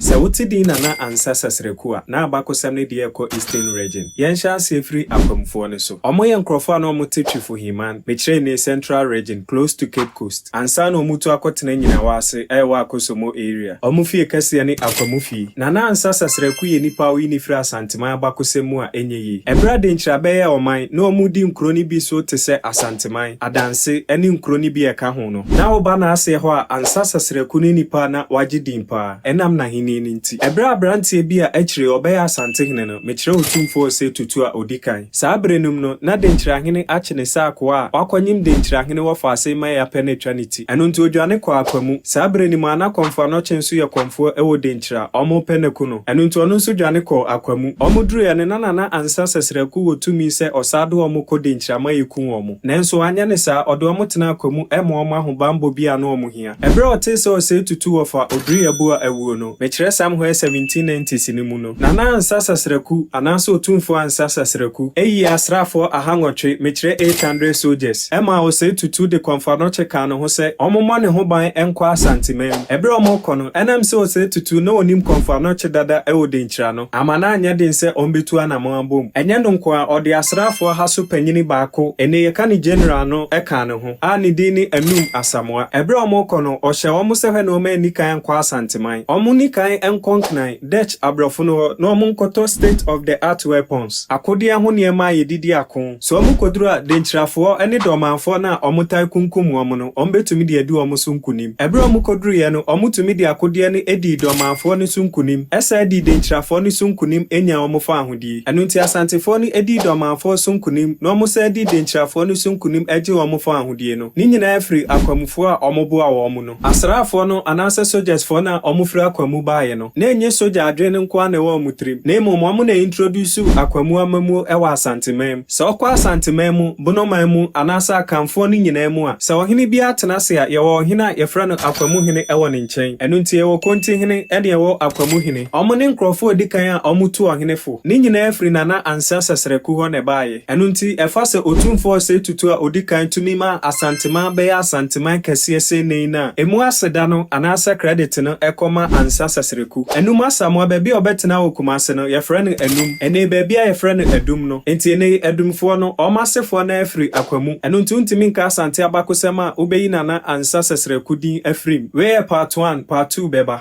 Sɛ wote din Nana Ansah Sasereku a, na abakɔsɛm no deɛ ɛkɔ Eastern Region. Yɛnhyɛ aseɛ firi Afamfoɔ no so. Wɔn yɛ nkorɔfoɔ a na wɔn te Twifo Himan, mekyerɛ nnee Central Region, close to Cape Coast, ansa na wɔn tu akɔtena Nyinawa ase a ɛwɔ Akosombo Area. Wɔn fie kɛseɛ ne Akwamu fie. Nana Ansah Sasereku yɛ nipa a woyi no firi Asanteman abakɔsɛm mu a ɛnyɛ yie. Ɛberɛ a Denkyira bɛyɛɛ ɔman, na wɔn redi nkuro no bi so te sɛ Asanteman, Adanse, ɛne nkuro no bi a ɛka ho. ho no. Ná woba n'aseɛ hɔ a ansa Sasraku ne nipa a na wagye din paa ɛnam n'ahennie no nti. Berɛ a aberanteɛ bi a akyire ɔbɛyɛ Asantehene no, mekyerɛ Otumfoɔ Osei Tutu a ɔdi kan. Saa berɛ no mu no, na Denkyirahene Akyene sɛ akoa a wakɔnyem Denkyirahene wɔ Faasei ma Eapɛ no atwa ne ti. Ɛno nti ɔdwane kɔɔ Akwamu. Saa berɛ no mu ara na Kɔmfoɔ Anɔkye nso yɛ kɔmfoɔ wɔ Denkyira. Wɔrepɛ no aku no. Ɛno nti ɔno nso dwane kɔɔ Akwamu. Wɔduruiɛ no na Nana Ansa Sasraku wɔ tumi sɛ ɔsan de wɔn kɔ Denkyira ma yɛku wɔn. Nanso anyɛ ne saa, ɔde wɔn tenaa kwa mu ma wɔn ahobammɔ bi a na wɔn hia. Bere a ɔtee sɛ ɔsɛe tutu wɔ fa Oduriyabua awuo no, mekyerɛ Sam Hoɛ 1790s no mu no, Nana Ansa Sasraku, anaasɛ Otumfoɔ Ansa Sasraku, yii asraafoɔ aha nwɔtwe, mekyerɛ eight hundred soldiers, maa ɔsɛe tutu de Kɔmfoanɔkye kaa ne ho sɛ wɔmmɔ ne ho ban nkɔ Asanteman. Bere a wɔrekɔ no, ɛnam sɛ ɔsɛe tutu na ɔnim Kɔmfoanɔkye dada wɔ Denkyira no, Amma na anyɛ den sɛ ɔmbetu anamɔn abom. Ɛnyɛ no nko ara, ɔde asraafo ɔha so panyin baako, ene yɛka no General no, kaa ne ho, a ne din ne Anum Asamoah. Bere a wɔrekɔ no, ɔhyɛɛ wɔn sɛ hwɛ na wɔn anni kan ankɔ Asanteman. Wɔnni kan nkɔ Nkran, Dutch, aborɔfo no hɔ, na wɔnkɔtɔ state-of-the-art weapons, akodeɛ ho nneɛma a yɛde di ako. Sɛ wɔkɔduru a, Denkyirafoɔ ne Dɔmanfoɔ no a wɔtaa kunkum wɔn no, wɔbɛtumi de adi wɔn so nkonim. Ɛberɛ a wɔkɔduruiɛ no, wɔtumi de akodeɛ no dii Dɔmanfoɔ no so nkonim, san dii Denkyirafoɔ no so nkonim nyaa wɔn fawohodie. Ɛno nti Asantefoɔ no dii Dɔmanfoɔ so nkonim na wɔsan dii Denkyirafoɔ no so nkonim gyee wɔn fawohodie no. Ne nyinaa firi akwamufoɔ a wɔboaa wɔn no. Asraafoɔ no anaasɛ sogyasfoɔ no a wɔfiri akwa mu baeɛ no, na ɛnyɛ sogya adwene nko ara na ɛwɔ wɔn tirim, na mmom wɔn na introduce akwa mu amammuo wɔ Asanteman mu. Sɛ wokɔ Asanteman mu, Bonoman mu, anaasɛ Akanfoɔ no nyinaa mu a, sɛ ɔhene biara tena ase a, yɛwɔ ɔhene a yɛfrɛ no akwa mu hene wɔ ne nkyɛn. Ɛno nti yɛwɔ Konti hene ne yɛwɔ akwa mu hene. Wɔn ne nkurɔfoɔ a ɛdi kan a wɔtu ɔhene fo. Ne nyinaa firi Nana Ansah Sasraku hɔ na ɛbaeɛ. Ɛno nti, ɛfa sɛ Otumfoɔ Osei Tutu a odi kan tumi ma Asanteman bɛyɛ Asanteman kɛseɛ sei nnɛ yi no a, ɛmu aseda no anaasɛ credit no kɔ ma Ansah Sasreku. Anum Asamoah, baabi a ɔbɛtena wɔ Kumase no, yɛfrɛ no Anum. Ɛnnɛ yi, baabi a yɛfrɛ no Adum no. Enti ɛnnɛ yi, Adumfoɔ no, wɔn asefoɔ no ara firi Akwa mu. Ɛno nti, wontumi nka Asante abakosɛm a wobɛyi Nana Ansah Sasreku din afiri mu. Wei yɛ part one, part two bɛba.